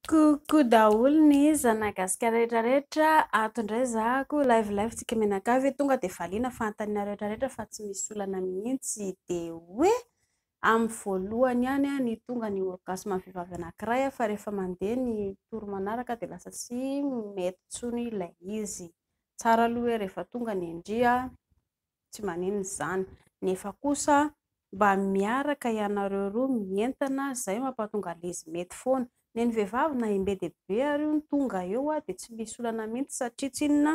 Coucou daholo ny zanagasikara rehetra rehetra ato indray zahako live live tsika mianakavy tonga dia valiana fanontaniana rehetra rehetra fa tsy misy olana mihitsy dia hoe amin'ny voalohany ihany ny tonga ny orgasme ny vehivavy anankiray fa rehefa mandeha ny tour manaraka dia lasa tsy mety intsony ilay izy, tsara aloha hoe rehefa tonga ny ndry an! tsy maninona izany nefa kosa mba miaraka ianareo roa mientana izay mampatonga lezy mety foana nen'ny vehivavy na imbe dia be ary io ny tonga eo aho dia tsy misy olana mintsy satria tsy inona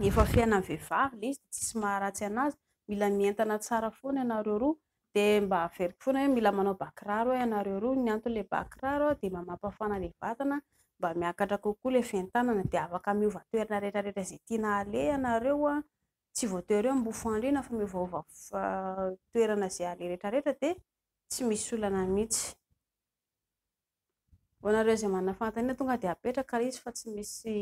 efa fiainan'ny vehivavy ilay izy dia tsisy maharatsy anazy mila mientana tsara foana ianareo roa Dia mba averiko foana hoe mila manao bà kiraro eo ianareo roa, ny anton'ilay bà kiraro dia mba mampafana ilay vatana, mba miakatra kokoa ilay fientanana dia afaka miova toerana rehetra rehetra izay tiana aleha ianareo an, tsy voatery hoe mifandry fandriana fa miovaova toerana izay aleha rehetra rehetra dia tsy misy olana mihintsy. Ho anareo izay manana fanontaniana tonga dia apetraka ilay izy fa tsy misy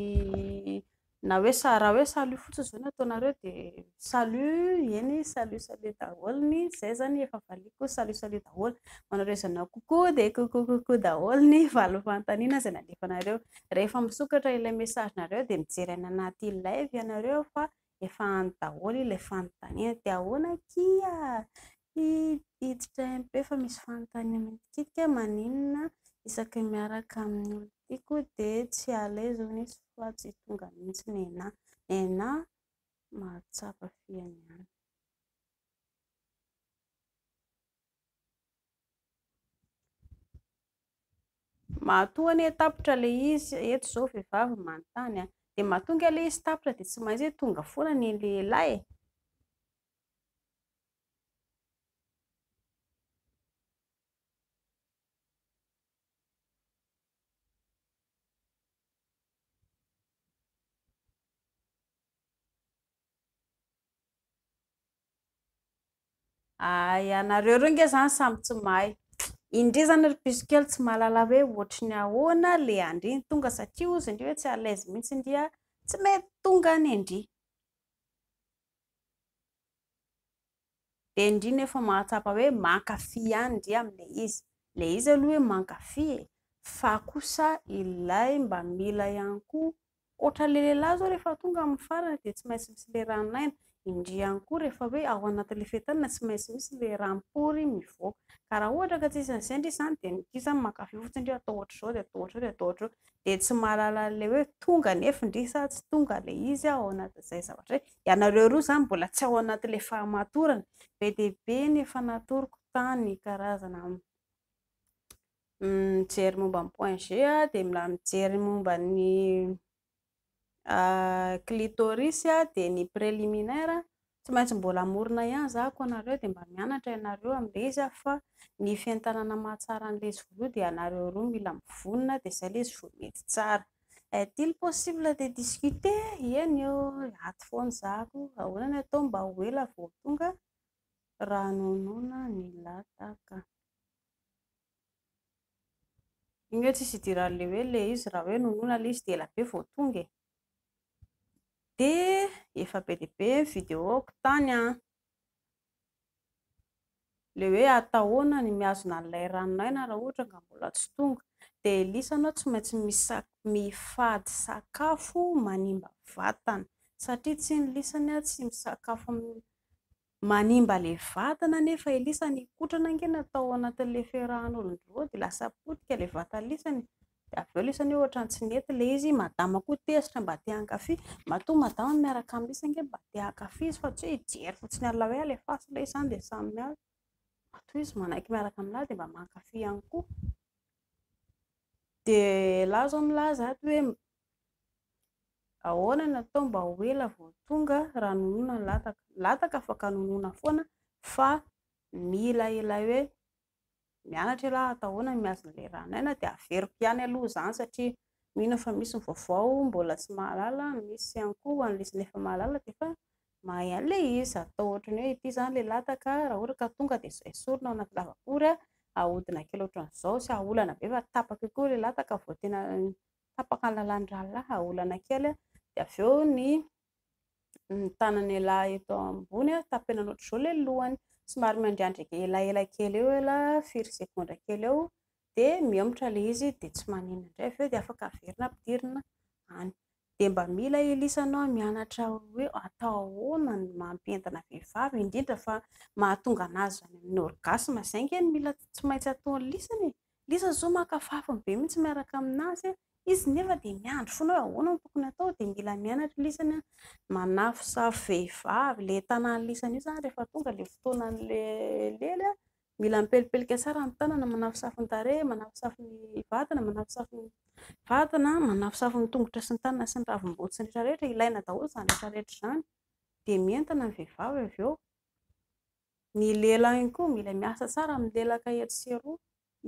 na hoe sa- raha hoe salut fotsiny izao no ataonareo dia salut eny salut salut daholo ny izay izany efa valiako salut salut daholo. Ho anareo izay nanao coucou dia coucou coucou daholo ny valo fanontaniana izay nalefanareo. Rehefa misokatra ilay message-nareo dia mijery any anaty live ianareo fa Efa any daholo ilay fanontaniana dia ahoana akia hiditra MP fa misy fanontaniana mitikitika maninona isaky ny miaraka amin'ny olona tiako dia tsy à l'aise hono izy fa tsy tonga mihitsy nenah. Nenah mahatsapa fihany ihany. Matoa anie tapitra ilay izy, eto izao vehivavy no manontany an! dia matoa ange ilay izy tapitra dia tsy maintsy hoe tonga foana ny lehilahy e! Ay anareo roa nge zany samy tsy mahay. Indri zany ry piso kely tsy mahalala hoe ohatry ny ahoana le andri ny tonga satria ozy indri hoe tsy à l'aise mihitsy indri a tsy mety tonga any indri. Dia indri nefa mahatsapa hoe mankafy ihany indri amle izy. Le izy aloha hoe mankafy e fa kosa ilay mba mila ihany koa Ohatra le lehilahy zao rehefa tonga amin'ny farany dia tsy maintsy misy le ranon'aina, indrey ihany koa rehefa hoe ao anatin'le fetin'aina tsy maintsy misy le ranom-pory mivoaka. Ka raha ohatra ka tsy isan'ny izay ndry izany dia ndry izany mankafy fotsiny ndry atao ohatr'izao dia atao ohatr'izao dia atao ohatr'izao dia tsy mahalala an'le hoe tonga nefa ndry sa tsy tonga le izy ao anatin'izay zavatra izay. Ianareo roa izany mbola tsy ao anatin'le fahamatorana. Be dia be ny efa natoroko tany karazana mijery momba ny point G dia mila mijery momba ny clitoris dia ny preliminaire tsy maintsy mbola hamorona ihany zahako anareo dia mba mianatra ianareo amin'ilay izy aho fa ny fientanana mahatsara an'ilay izy voaloha dia ianareo roa mila mivonona dia izay ilay izy vao mety tsara est-il possible de discuter? eny ô ato foana zahako ahoana ny atao mba ho ela vao tonga Ranonona nilataka Iny hoe tsisy idiran'le hoe le izy raha hoe nonina le izy dia ela be vao tonga e! Dia efa be dia be ny vidéo-ko tany an! Le hoe atao ahoana ny mihazona an'ilay ranon'aina raha ohatra ka mbola tsy tonga? Dia Elisa anao tsy maintsy mifady sakafo manimba vatana satria tsin'ny lisany tsy misakafo Manimba le vatana anefa Elisa ny kotrana ange natao anatin'le fiarahan'olon-droa dia lasa potika le vatan'lisany dia avy eo lisany hoe ohatrany tsy nety le izy, madama koa tezitra mba te hankafy, matoa madama miaraka amin'ny lisany ange mba te hankafy izy fa tsy hoe hijery fotsiny an'la hoe alefaso ilay izy zany dia samy miala, matoa izy manaiky miaraka amin'lah dia mba mankafy ihany koa, dia lah zao milaza ato hoe Ahoana no atao mba ho ela vao tonga raha nonona ny lataka? Ny lataka afaka nonona foana fa mila ilay hoe mianatra ialahy atao ahoana ny mihazo an'ilay ran'aina dia averiko ihany aloha izany satria mino aho fa misy ny vaovao mbola tsy mahalala, misy ihany koa ho an'ilay izy efa mahalala dia efa mahay an'ilay izy. Atao ohatran'ny hoe ity izany ilay lataka raha ohatra ka tonga dia izao esorina ao anaty lavabory, ahodina kely ohatran'izao, tsy ahaolana be fa tapaka eo koa ilay lataka vao tena tapaka ny lalàn'ny rahalahy, olana kely, dia avy eo ny ny tanany elah eto ambony tapenana ohatr'izao ilay lohany, somary miandriandrika elaela kely eo ela firy segondra kely eo dia mihemotra ilay izy dia tsy maninona indray avy eo dia afaka averina ampidirina any, dia mba mila Elisha anao mianatra hoe atao ahoana ny mampientina vehivavy indrindra fa mahatonga an'azy any amin'ny orgasme, izay ange no mila tsy maintsy ataon'i Lisany e! Ilay izy zao maka fafiny be mihitsy miaraka amin'azy, izy nefa dia miandry foana hoe ahoana no tokony atao dia mila mianatra ilay izy ny manafosafo vehivavy, ilay tanan'ilay izy io izany rehefa tonga ilay fotoanan'ilay lely, mila mipelipelika tsara ny tanana, manafosafo ny tarehy, manafosafo ny vatana, manafosafo ny vatana, manafosafo ny tongotra sy ny tanana sy ny ravim-body sy ny rehetra rehetra, ilaina daholo izany rehetra rehetra izany dia mientana ny vehivavy avy eo. Ny lela ihany koa mila miasa tsara amin'ny lelaka etsy sy eroa.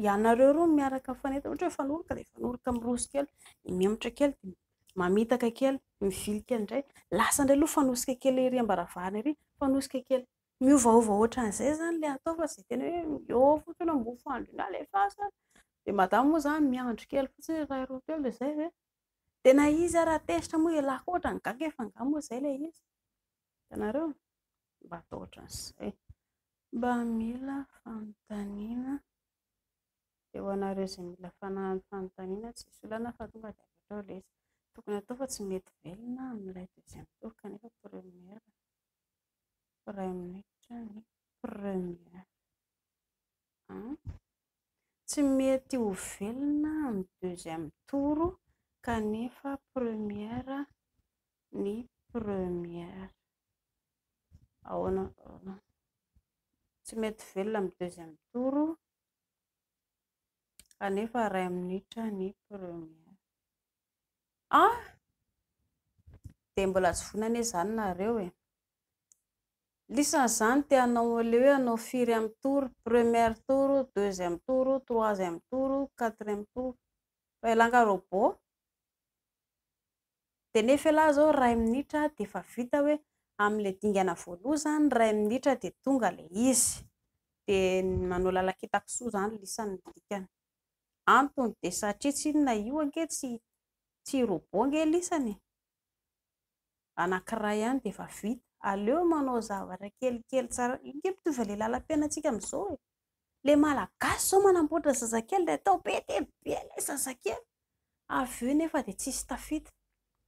Ianareo roa no miaraka mifanentana, ohatra hoe mifanoroka dia mifanoroka miroso kely, dia mihemotra kely, dia mamitaka kely, mivily kely indray. Lasa indray aloha mifanosika kely ery am-baravarana ery, mifanosika kely. Miovaova ohatran'izay izany ilay atao fa tsy dia tena hoe miôva fotsiny hoe mofo andry iny alefaso any. Dia madama moa izany miandry kely fotsiny hoe iray roa telo dia izay ve? Tena izy ary raha tezitra moa ialahy koa ohatran'ny gaga efa angaha moa izay ilay izy. Hitanareo? Mba atao ohatran'izay. Mba mila fanontaniana dia ho anareo izay mila fanontaniana tsisy olana fa tonga dia avy hatrao ilay izy. Tokony hatao fa tsy mety velona amin'ilay deuxième tour kanefa première iray minitra ny première. An! Tsy mety ho velona amin'ny deuxième tour kanefa première ny première. Ahoana? Tsy mety velona amin'ny deuxième tour kanefa iray minitra ny première. An! Dia mbola tsy vonona anie izany nareo e! Lisany zany te hanao le hoe hanao firy am tour, première tour, deuxième tour, troisième tour, quatrième tour, fa elah nga robot de nefa elah zao ray minitra de efa vita hoe am le dingana voaloha zany ray minitra de tonga le izy de manao lalakitaka soa zany lisany ny dikany, antony de satria tsinona io ange tsy tsy robot ange lisany e! anankiray ihany dia efa vita, aleo manao zavatra kelikely tsara, io nge mitovy amin'ilay lalam-piainantsika amin'izao e! ilay malagasy izao manamboatra zazakely dia atao be dia be ilay zazakely, avy eo nefa dia tsisy tafita,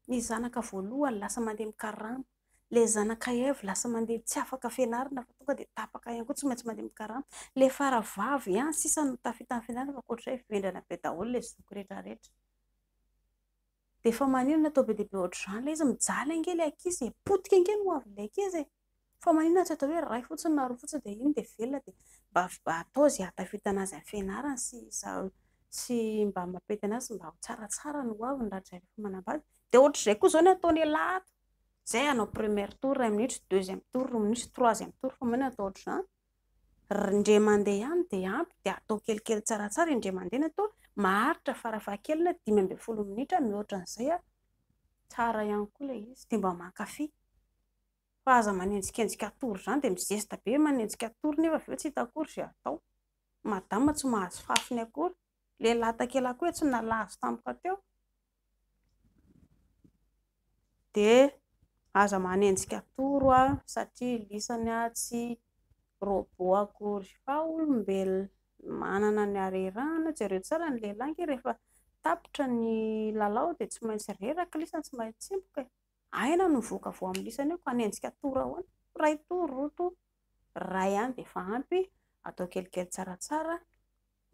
ny zanaka voalohany lasa mandeha mikarama, ilay zanaka iray lasa mandeha tsy afaka fianarana fa tonga dia tapaka ihany koa tsy maintsy mandeha mikarama, ilay fara vavy ihany sisa no tafita amin'ny fianarana fa ankoatr'izay vendrana be daholo ilay zoky rehetra rehetra. Dia efa maninona atao be dia be ohatr'izany ilay izy, mijaly ange ilay ankizy e, potika ange ny ho avin'ilay ankizy e, fa maninona tsy atao hoe ray fotsiny na roa fotsiny dia iny dia velona dia mba atao izay ahatafitana azy amin'ny fianarany sy sy mba mampety an'azy mba ho tsaratsara ny ho aviny raha dray rehefa manambady, dia ohatr'izay koa izao no ataon'ialahy ato, izay hanao première tour iray minitra, deuxième tour roa minitra, troisième tour fa maninona atao ohatr'izany. Indray mandeha ihany dia ampy dia atao kelikely tsaratsara indray mandeha ny atody, maharitra farafahakeliny dimy ambin'ny folo minitra, mihoatra an'izay ary tsara ihany koa ilay izy dia mba mankafy. Fa aza manenjikenjika hatory izany dia mi-zesta be manenjika hatory nefa avy eo tsy hita akory izay hatao. Madama tsy mahazo fafiny akory. Lehilahy takelako etsy nalavo tampoka teo dia aza manenjika toro a satria lisany aho tsy robot akory fa olombelona manana ny harerahana, jereo tsara ny lehilahy ange rehefa tapitra ny lalao dia tsy maintsy reraka lisany tsy maintsy tsemboka e. Aina no voka vao amin'ny lisany eo ka ny antsika toro ahoana? Iray toro, roa toro, iray ihany dia efa ampy, atao kelikely tsaratsara,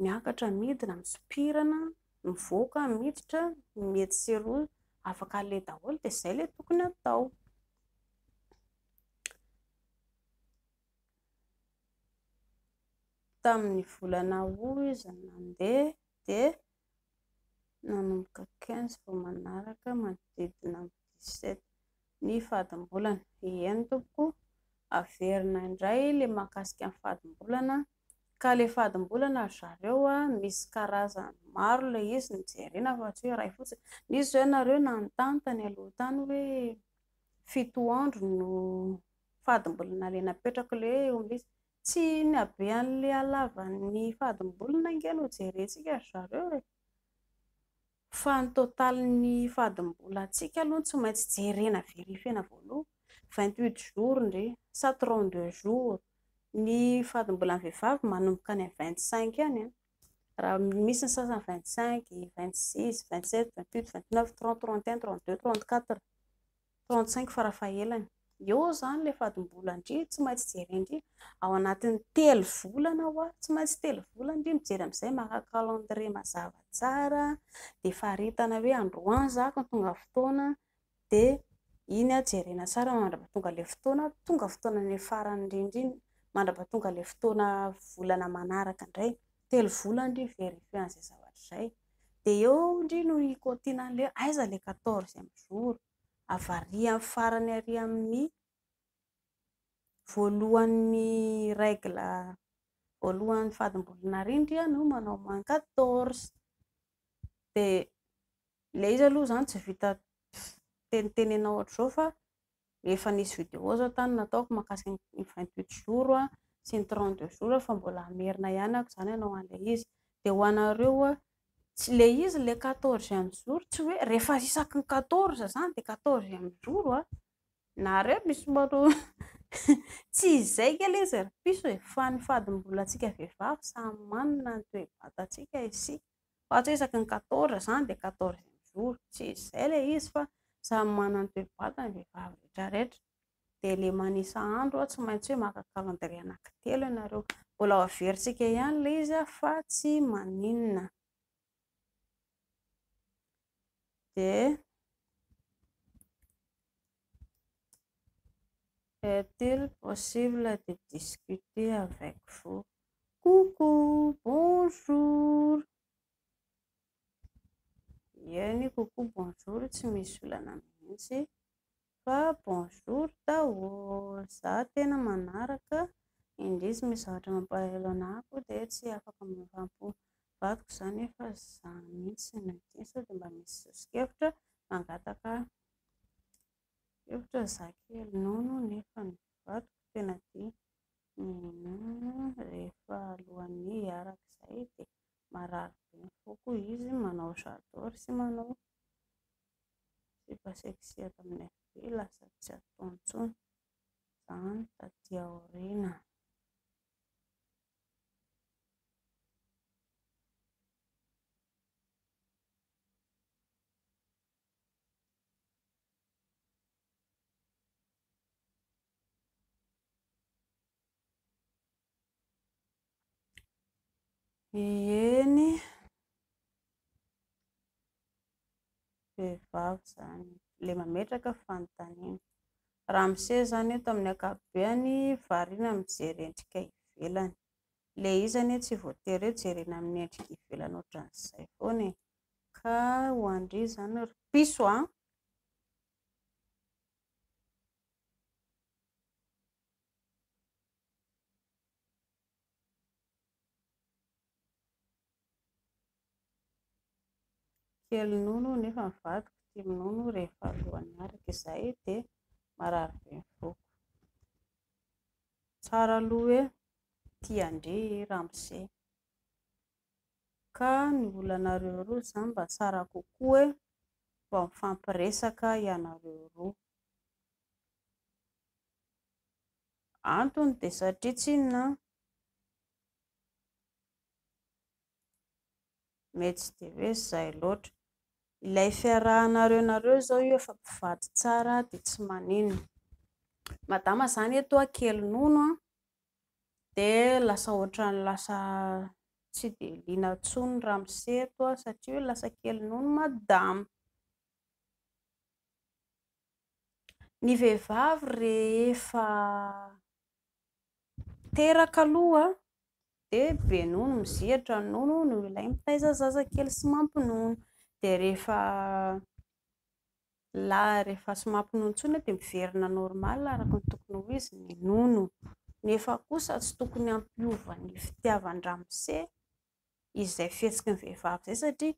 miakatra, midina, misopirana, mivoaka, miditra, ny etsy sy eroa afaka aleha daholo dia izay ilay tokony atao. Tamin'ny volana aogositra nandeha dia nanomboka quinze vao manaraka manodidina ny dix sept ny fadimbolana, eny tompoko averina indray ilay mahakasika ny fadimbolana ka ilay fadimbolana ry zareo an, misy karazany maro ilay izy no jerena fa tsy hoe iray fotsiny, nisy izao ianareo nanontany tany aloha tany hoe fito andro no fadimbolana ilay napetrako ilay hoe omby izy, Tsy ny habean'ilay halavan'ny fadim-bolony ange no jerentsika ry zareo e! Fa ny totalin'ny fadim-bolantsika aloha no tsy maintsy jerena verifier-na voaloha. Vingt huit jours ndry sa trente deux jours? Ny fadim-bolan'ny vehivavy manomboka any amin'ny vingt cinq any an! Raha misy ny sasany vingt cinq, vingt six, vingt sept, vingt huit, vingt neuf, trente, trente et un, trente deux, trente quatre. Tao an-tsaiko farafahelany, eo izany ilay fadim-bola ndry tsy maintsy jerena ndry, ao anatin'ny telo volana hoa, tsy maintsy telo volana ndry mijery amin'izay maka calendrier mazava tsara dia faritana hoe androany za ka tonga fotoana dia iny aho jerena tsara mandrapahatonga ilay fotoana, tonga fotoana any amin'ny farany indrindra iny, mandrapahatonga ilay fotoana volana manaraka indray, telo volana ndry vérifier an'izay zavatra izay. dia eo ndry no i Continent le aiza le quatorzième jour? avariany farany ary amin'ny voalohan'ny règle voalohan'ny fadimbolana ary ndry a no manao moins quatorze dia le izy aloha zany tsy vita tenitenena ohatr'izao fa efa nisy vidéo zao tany nataoko makasika ny vingt huit jours sy ny trente deux jours fa mbola hamerina ihany ako zany anao anle izy de ho anareo tsy le izy le quatorzième jour tsy hoe rehefa isaky ny quatorze zany de quatorzième jour a nareo misy manao tsy izay nge le izy ry piso e fa ny fadimbolantsika vehivavy samy manana ny toe-batantsika isika Fa tsy isaky ny quatorze zany dia quatorzième jour, tsy izay ilay izy fa samy manana ny toe-batany ny vehivavy rehetra rehetra, dia ilay manisa andro tsy maintsy hoe maka calendrier anakitelo ianareo, mbola ho averintsika ihany ilay izy fa tsy maninona. dia Est-il possible de discuter avec vous? Coucou, bonjour. Eny, coucou, bonjour tsy misy olana mihitsy. Fa bonjour daholo, za tena manaraka indrisy misy zavatra mampalahelo anah ko de tsy afaka miovam-po vadiko za nefa za mintsy no tia sao de mba misy soso-kevitra mangataka hevitra za kely nono nefa ny vadiko tena tia minono rehefa alohan'ny hiaraka zay de marary be ny foko izy manao j'adore sy manao sipa sexy eto amin'ny FB lasa tsy atao intsony izany taty aoriana. Ieny vehivavy izany ilay mametraka fanontaniana. Ramose izany eto amin'ny ankapobeny variana mijery endrika ivelany. Ilay izy anie tsy voatery hoe jerena amin'ny endrika ivelany ohatran'izay foana e. Ka ho an-dry izany ry piso a! kely nono nefa ny vadiko tia minono rehefa alohan'ny araka izay dia marary be ny voako. Tsara aloha hoe tia andre i ramose. Ka ny olanareo roa izany mba tsara kokoa hoe mba mifampiresaka ianareo roa. Antony dia satria tsinona mety tsy dia hoe izay loatra. Ilay fiarahanareo nareo izao io efa mpivady tsara dia tsy maninona. Madama izany eto hoa kely nono dia lasa ohatran'ny lasa tsy dia liana intsony ny ramose eto satria hoe lasa kely nono madama. Ny vehivavy rehefa teraka aloha dia be nono mizihatra ny nono no ilay mitaiza zaza kely sy mampinono dia rehefa lahy rehefa tsy mampinono intsony dia miverina normal araka ny tokony ho izy ny nono nefa kosa tsy tokony hampiova ny fitiavan-dramose izay fihetsiky ny vehivavy izay satria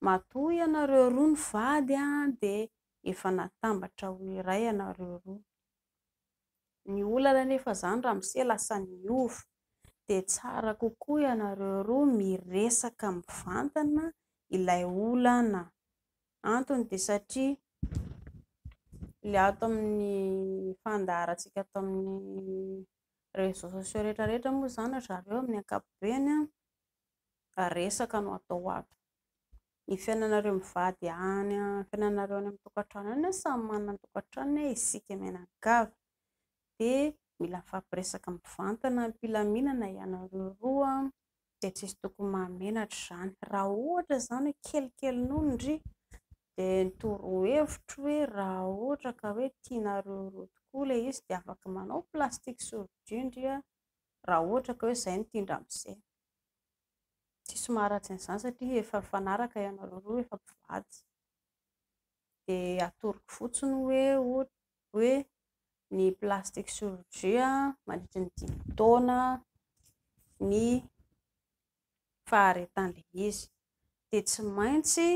Matoa ianareo roa nivady dia efa natambatra ho iray ianareo roa. Ny olana anefa izany ramose lasa niova. Dia tsara kokoa ianareo roa miresaka mivantana ilay olana. Antony dia satria ilay ato amin'ny fandaharantsika ato amin'ny réseaux sociaux rehetra rehetra moa izany ry zareo amin'ny ankapobeny Fa resaka no atao ato. Ny fiainanareo mivady any, ny fiainanareo any amin'ny tokantrano any an, samy manana ny tokantranony an, isika mianakavy dia mila mifampiresaka mivantana am-pilaminana ianareo roa an, dia tsy misy tokony mahamenatra izany. Raha ohatra izany hoe kelikely nono ndry dia ny torohevitro hoe raha ohatra ka hoe tianareo roa tokoa ilay izy dia afaka manao plastique survie ndry an, raha ohatra ka hoe izay no tian-dramose. Diso maharatsy an'izany satria efa mifanaraka ianareo roa, efa mpivady. Dia atoroko fotsiny hoe ohatra hoe ny plastic surgelé mandritry ny dimy taona ny faharetan'ilay izy. Dia tsy maintsy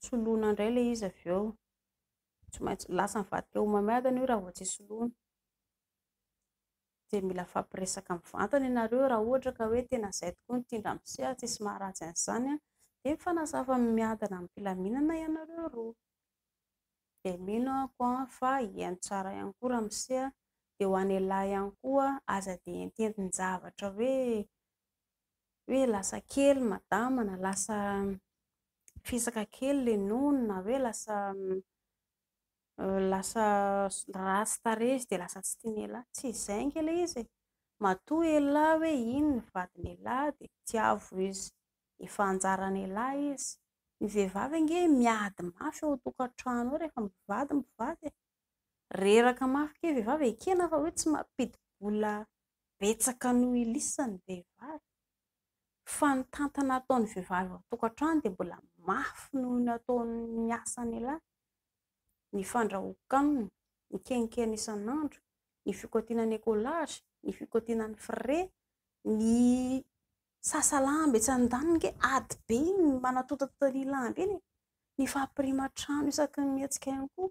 soloina indray ilay izy avy eo. Tsy maintsy, lasa mivadika homamiadana io raha vao tsy soloina. Dia mila hifampiresaka mivantana ianareo raha ohatra ka hoe tena izay tokoa ny tian-dra mse ary tsisy maharatsy an'izany an! Dia mifanazava miadana amim-pilaminana ianareo roa! Dia mino aho an fa hihaino tsara ihany koa ra mse an! Dia ho an'ialahy ihany koa aza dia ententin-javatra hoe hoe lasa kely madama na lasa fisaka kely le nono na hoe lasa Lasa ratsy tarehy izy dia lasa tsy tian'i elah. Tsy izay ange ilay izy e! Matoa elah hoe iny ny vadin'i elah dia tiavo izy. Efa anjaran'i elah izy. Ny vehivavy ange miady mafy ao an-tokantrano ao rehefa mivady mpivady e! Reraka mafy kay vehivavy, ekena fa hoe tsy mampidi-bola betsaka noho i lisany ny vehivavy. Fa ny tantana ataon'ny vehivavy ao an-tokantrano dia mbola mafy noho ny ataon'ny asan'i elah. ny fandrahoako aminy, ny kenikeny isan'andro, ny fikotiana ny écolage, ny fikotiana ny frais, ny sasalamba etsy andaniny ange ady be iny ny manatontontotra ny lamba iny e! ny fampiriman-trano isaky ny mihetsika ihany koa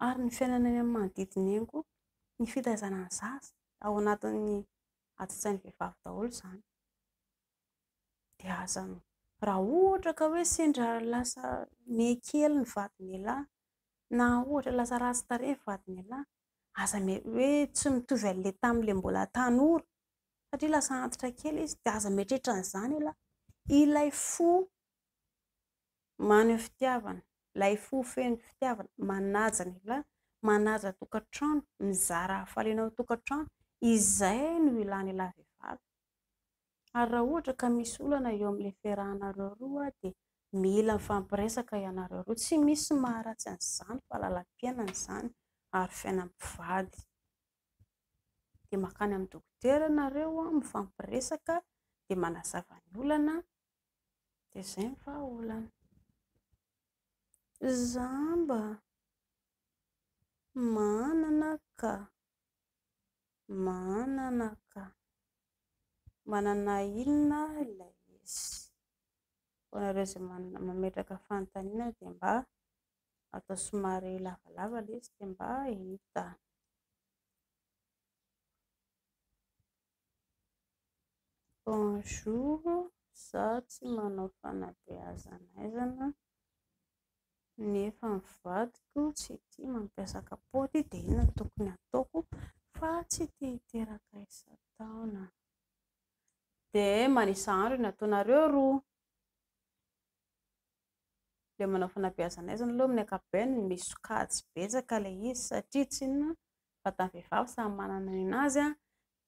ary ny fiainana eny amin'ny manodidina eny koa, ny fitaizana ny zaza, ao anatin'ny ati-tsain'ny vehivavy daholo izany. dia aza raha ohatra ka hoe sendra lasa miha kely ny vadin'ialahy na ohatra lasa ratsy tarehy ny vadin'ialahy, aza hoe tsy mitovy amin'ilay tamin'ilay mbola tanora satria lasa antitra kely izy dia aza mieritreritra an'izany ialahy. Ilay fo maneho fitiavana, ilay fo feno fitiavana, manaja ny lahy, manaja tokantrano, mizara hafaliana ao an-tokantrano, izay no ilàn'ilay vehivavy. Ary raha ohatra ka misy olana eo amin'ilay fiarahanareo roa dia mila mifampiresaka ianareo roa. Tsy misy maharatsy an'izany fa lalam-piainana izany ary fiainam-pivady. Dia mankany amin'ny dokotera ianareo mifampiresaka dia manazava ny olana dia izay ny vahaolana. Za mba manana ka. Manana ka. Manana inona ilay izy? Hoanareo izay mametraka fanontaniana dia mba atao somary lavalava ilay izy dia mba hita. Bonjour, za tsy manao fanabeazana aizana. Nefa ny vadiko tsy tia mampiasa kapaoty dia inona no tokony hataoko fa tsy te hiteraka isan-taona? Dia manisa andro ny ataonareo roa. Ilay manao fanabeazana aizina aloha amin'ny ankapobeny misy sokajy betsaka ilay izy satria tsy inona fa vatan'ny vehivavy samy manana ny an'azy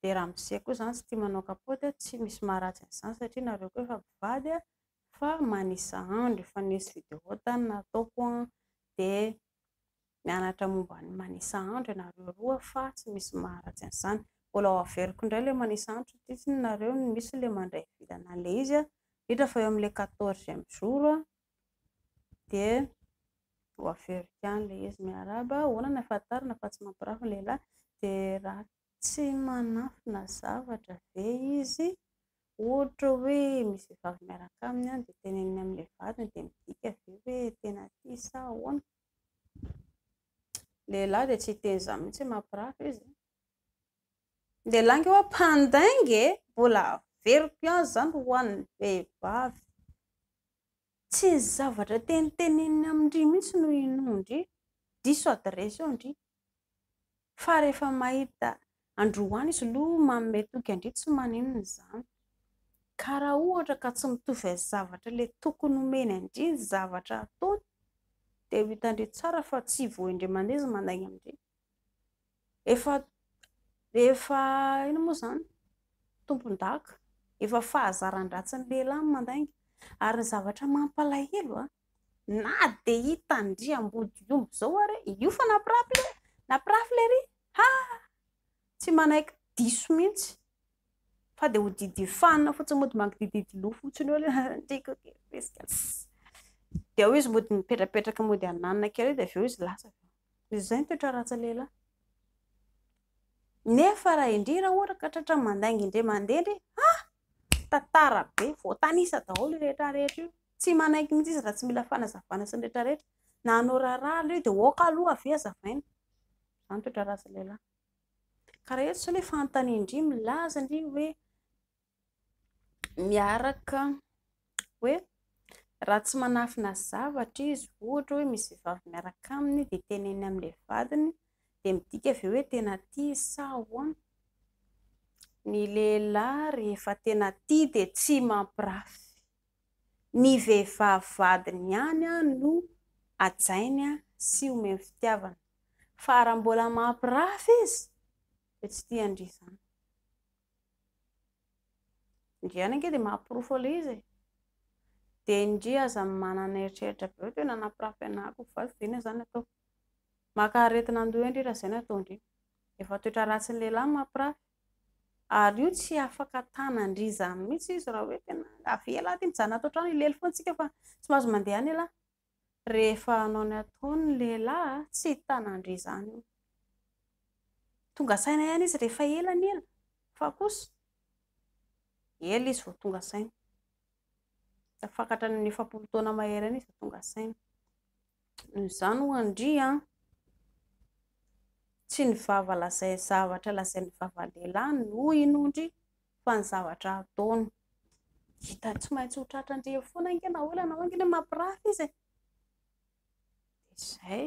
dia raha amzia koa izany tsy tia manao kapaoty tsy misy maharatsy an'izany satria nareo koa efa mpivady Fa manisa andro efa nisy video tany nataoko an, de mianatra momba ny manisa andro ianareo roa fa tsy misy maharatsy an'izany. Mbola ho averiko indray ilay manisa andro satria tsy ny nareo no misy ilay mandray vilana an'ilay izy an, indrindra fa eo amin'ilay quatorzième jour an, de ho averiko ihany ilay izy. Miarahaba, ahoana no ahafantarana fa tsy mampirafy ny lehilahy, de raha. Tsy manafina zavatra ve izy? Ohatra hoe misy vehivavy miaraka aminy dia teneniny amin'ilay vadiny dia midika ve hoe tena tia sa ahoana? Ny lehilahy dia tsy hiteny izany mihitsy mampirafy izy an! Ny lehilahy ange ho'a mpandainga e! Mbola averiko ihany izany ho an'ny vehivavy. Tsy ny zavatra teniteneniny amin-dry mihitsy no inoan-dry, diso adiresy eo ndry. Fa rehefa mahita an-dry one izy aloha manome toky an-dry tsy maninona izany. Ka raha ohatra ka tsy mitovy amin'ny zavatra ilay tokony homeny an-dry ny zavatra ataony dia ho hitan-dry tsara fa tsy voain-dry aman-izy manainga amin-dry. Efa efa inona moa izany? Tompondaka. Efa fahazaran-dratsin'ny lehilahy ny mandainga. Ary ny zavatra mampalahelo an, na dia hita andriamboto omby izao ary io fa nampirafy le nampirafy le ry ha! tsy manaiky diso mihitsy fa dia ho didy fanina fotsiny mody mangidihididy loha fotsiny eo ilay andriaka dia ao izy mody mipetrapetraka mody hananina kely eo dia avy eo izy lasa avy eo. Izay ny toetra ratsy lehilahy. Nefa raha indry raha ohatra ka tratra mandainga indray mandeha indry, ha! tantara be, voatanisa daholo io rehetra rehetra io. Tsy manaiky mihitsy izy raha tsy mila fanazavana sy ny rehetra rehetra. Na hanao raharaha aloha io dia aoka aloha avy eo azavaina. Izany ny toetra ratsy lehilahy. Ka raha eto izao ilay fanontaniana indry milaza indry hoe miaraka hoe raha tsy manafina zavatra izy ohatra hoe misy vehivavy miaraka aminy dia teneniny amin'ilay vadiny dia midika ve hoe tena tia izy sa ahoana? ny lehilahy rehefa tena tia dia tsy mampirafy, ny vehivavy vadiny ihany no hajainy sy omeny fitiavana fa raha mbola mampirafy izy dia tsy tian-dry izany Ndriana ange dia mahaporofo an'ilay izy e! Dia ndry aza manana eritreritra be hoe teo nanapirafy anah ko vavy ve na zany ataoko? Maka aretina andoha eo ndry raha izay no ataondry! Efa toetra ratsin'ny lehilahy ny mampirafy! Ary io tsy afaka tanan-dry izany mihitsy izy raha hoe tena avela aty mijanona ato an-trano, hilely foana tsika fa tsy mahazo mandeha any elah! Rehefa hanao ny ataony ny lehilahy tsy hitana an-dry izany io. Tonga saina ihany izy rehefa ela ny ela fa kosa ela izy vao tonga saina. Tafakatra ny efapolo taona mahery any izy vao tonga saina. Noho izany ho an-dry an, tsy ny vava lazay zavatra lazain'ny vava lehilahy no hinoan-dry fa ny zavatra ataony hita tsy maintsy ho tratrandreo foana ange na olana hoy ange mampirafy izy e, dia izay.